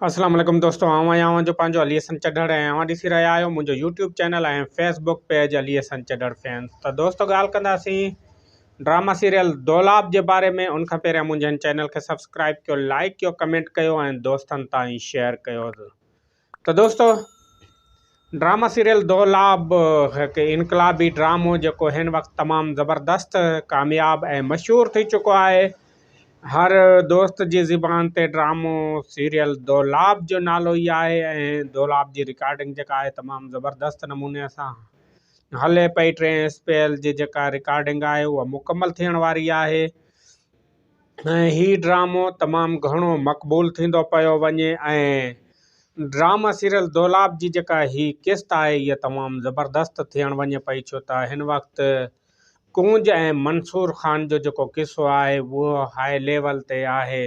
اسلام عليڪم دوستو آئون آهيان اوهان جو پنهنجو علي حسن چڍڙ ۽ اوهان ڏسي رهيا آهيو منهنجو YouTube channel ۽ Facebook page Ali Hassan Chadhar fans ته دوستو ڳالهه ڪنداسين ڊراما سيريل دولاب جي باري ۾ ان کان پهريان منهنجي هن چينل کي سبسڪرائب ڪيو لائڪ ڪيو ڪمينٽ ڪيو ۽ دوستن تائين شيئر ڪيو ته دوستو ڊراما سيريل دولاب هڪ انقلابي ڊرامو جيڪو هن وقت تمام زبردست ڪامياب ۽ مشهور ٿي چڪو آهي هر دوست جي زبان تي ڊرامو سيريل دولاب جو نالو ئي آهي ۽ دولاب جي رڪارڊنگ جيڪا آهي تمام زبردست نموني سان هلي پئي ٽين اسپيل جي جيڪا رڪارڊنگ آهي اها مڪمل ٿيڻ واري آهي ۽ هي ڊرامو تمام گهڻو مقبول ٿيندو پيو وڃي ۽ ڊرامه سيريل دولاب جي جيڪا هي قسط آهي هيء تمام زبردست ٿيڻ وڃي پئي ڇو ته هن وقت ڪونج ۽ منصور خان جو جيڪو قصو آهي اهو هاء ليول تي آهي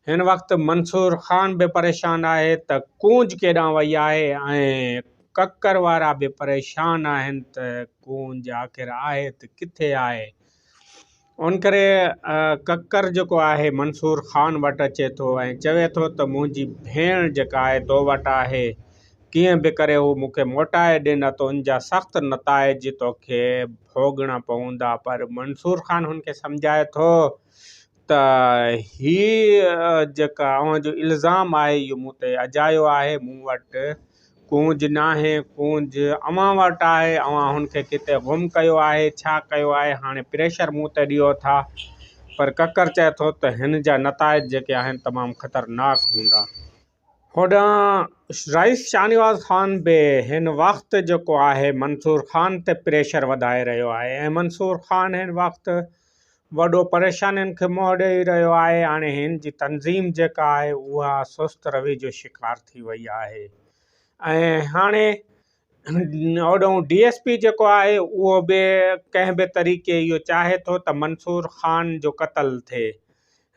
هن وقت منصور خان به پريشان آهي ته ڪونج ڪيڏانهن وئي آهي ۽ ڪڪر وارا به پريشان آهن ته ڪونج آخر آهي ته ڪٿي آهي. ان ڪري ڪڪر جيڪو آهي منصور خان وٽ اچي ٿو ۽ چوي ٿو ته منهنجي ڀيڻ جيڪا آهي تو وٽ آهي ڪيئن به ڪري هو مون کي موٽائي ڏي نه ته ان جا سخت نتائج توکي ڀوڳڻا پوندا پر منصور خان هن کي سمجهائي ٿو ته هي جيڪا اوهان جو الزام آهي اهو مون تي اجايو آهي مون وٽ ڪونج ناهي، ڪونج اوهان وٽ آهي، اوهان هن کي ڪٿي گم ڪيو آهي، ڇا ڪيو آهي، هاڻي پريشر مون تي ڏيو ٿا. پر ڪڪر چئي ٿو ته هن جا نتائج جيڪي آهن تمام خطرناڪ هوندا. هوڏانهن رئيس شاهنواز خان به هن وقت جيڪو آهي منصور خان تي پريشر وڌائي رهيو آهي ۽ منصور خان هن وقت وڏو پريشانين کي منهن ڏئي رهيو آهي. هاڻي هن جي تنظيم جيڪا آهي اها سست روي جو شڪار ٿي وئي آهي ۽ هاڻي هوڏانهن ڊي ايس پي جيڪو آهي اهو به ڪنهن به طريقي اهو چاهي ٿو ته منصور خان جو قتل ٿئي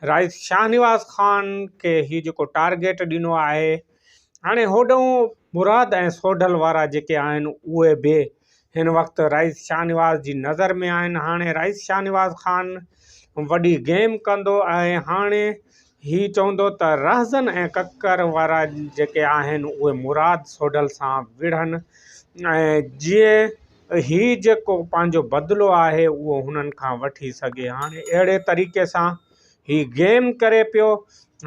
رائيس شاهنواز خان کي هي جيڪو ٽارگيٽ ڏنو آهي هاڻي هوڏنهن مراد ۽ سوڍل وارا جيڪي آهن اهي به هن وقت رائيس شاهنواز جي نظر ۾ آهن هاڻي رائيس شاهنواز خان وڏي گيم ڪندو ۽ هاڻي هي چوندو ته رهزن ۽ ڪڪر وارا جيڪي آهن اهي مراد سوڍل سان وڙهن ۽ جيئن هي جيڪو پنهنجو بدلو آهي اهو هنن کان وٺي سگهي هاڻي اهڙي طريقي سان هي گيم ڪري پيو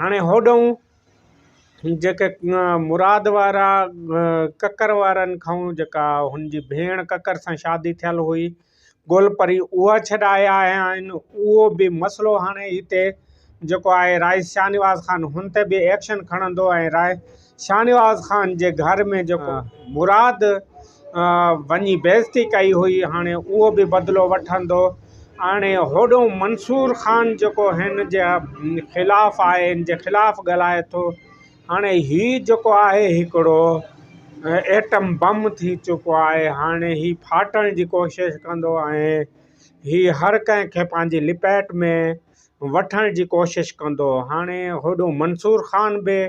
هاڻي هوڏنهون جيڪي مراد وارا ڪڪر وارن کائون جيڪا هن جي ڀيڻ ڪڪر سان شادي ٿيل هئي گولپري اها ڇڏايا آهن اهو به مسئلو هاڻي هتي جيڪو آهي رائج شاهنواز خان هن تي به ايڪشن کڻندو ۽ راء شاهنواز خان جي گهر ۾ جيڪو مراد وڃي بيعزتي ڪئي هئي هاڻي اهو به بدلو وٺندو هاڻي هوڏو منصور خان جيڪو هن جي خلاف آهي هن جي خلاف ڳالهائي ٿو هاڻي هي جيڪو آهي هڪڙو ايٽم بم ٿي چڪو آهي هاڻي هي ڦاٽڻ جي ڪوشش ڪندو ۽ هي هر ڪنهن کي پنهنجي لپيٽ ۾ وٺڻ جي ڪوشش ڪندو هاڻي هوڏو منصور خان به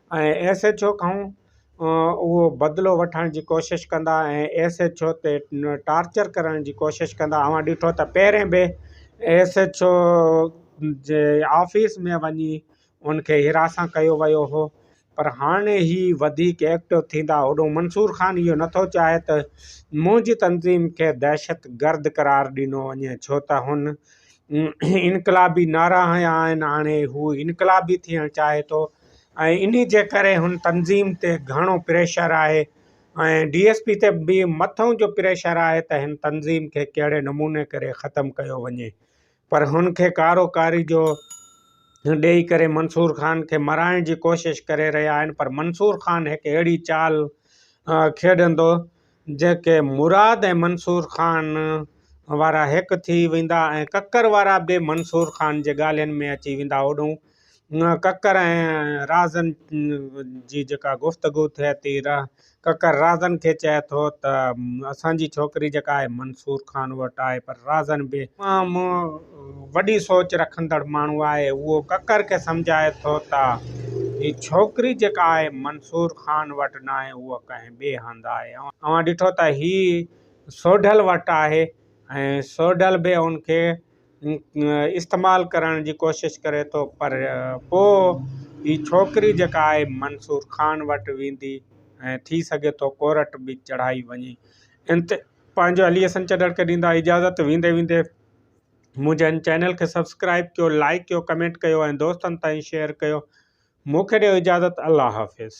۽ ايس ايڇ او کان اهو بدلو وٺڻ جي ڪوشش ڪندا ۽ ايس ايڇ او تي ٽارچر ڪرڻ جي ڪوشش ڪندا اوهان ڏٺو ته پهرين به ايس ايڇ او جي آفيس ۾ وڃي ان کي حراسان ڪيو ويو هو پر هاڻي هي وڌيڪ ايڪٽو ٿيندا هوڏو منصور خان اهو نٿو چاهي ته منهنجي تنظيم کي دهشت گرد قرار ڏنو وڃي ڇو ته هن انقلابي نعرا هنيا آهن هاڻي هو انقلابي ٿيڻ چاهي ٿو ۽ انهي جي ڪري هن تنظيم تي گهڻو پريشر آهي ۽ ڊي ايس پي تي به مٿئون جو پريشر آهي ته هن تنظيم کي ڪهڙي نموني ڪري ختم ڪيو وڃي پر هن کي ڪارو ڪاري جو ڏيئي ڪري منصور خان کي مرائڻ جي ڪوشش ڪري رهيا آهن پر منصور خان هڪ اهڙي چال کيڏندو جيڪي مراد ۽ منصور خان وارا هڪ ٿي ويندا ۽ ڪڪر وارا به منصور خان جي ڳالهين ۾ اچي ويندا. هوڏهون ڪڪر ۽ رازن جي جيڪا گفتگو ٿئي ٿي، ڪڪر رازن کي چئي ٿو ته اسان جي ڇوڪري جيڪا آهي منصور خان وٽ آهي پر رازن به تمام وڏي سوچ رکندڙ ماڻهو آهي اهو ڪڪر کي سمجهائي ٿو ته هي ڇوڪري جيڪا آهي منصور خان وٽ ناهي اهو ڪنهن ٻئي هنڌ آهي. اوهان ڏٺو ته هي سوڍل وٽ آهي ۽ سوڍل به ان کي استعمال ڪرڻ جي ڪوشش ڪري ٿو پر پوء هي ڇوڪري جيڪا آهي منصور خان وٽ ويندي ۽ ٿي سگهي ٿو ڪورٽ به چڙهائي وڃي ان تي پنهنجو علي حسن چڏڙ کي ڏيندا اجازت ويندي ويندي منهنجي هن چينل کي سبسڪرائب ڪيو لائڪ ڪيو ڪمينٽ ڪيو ۽ دوستن تائين شيئر ڪيو مون کي ڏيو اجازت الله حافظ.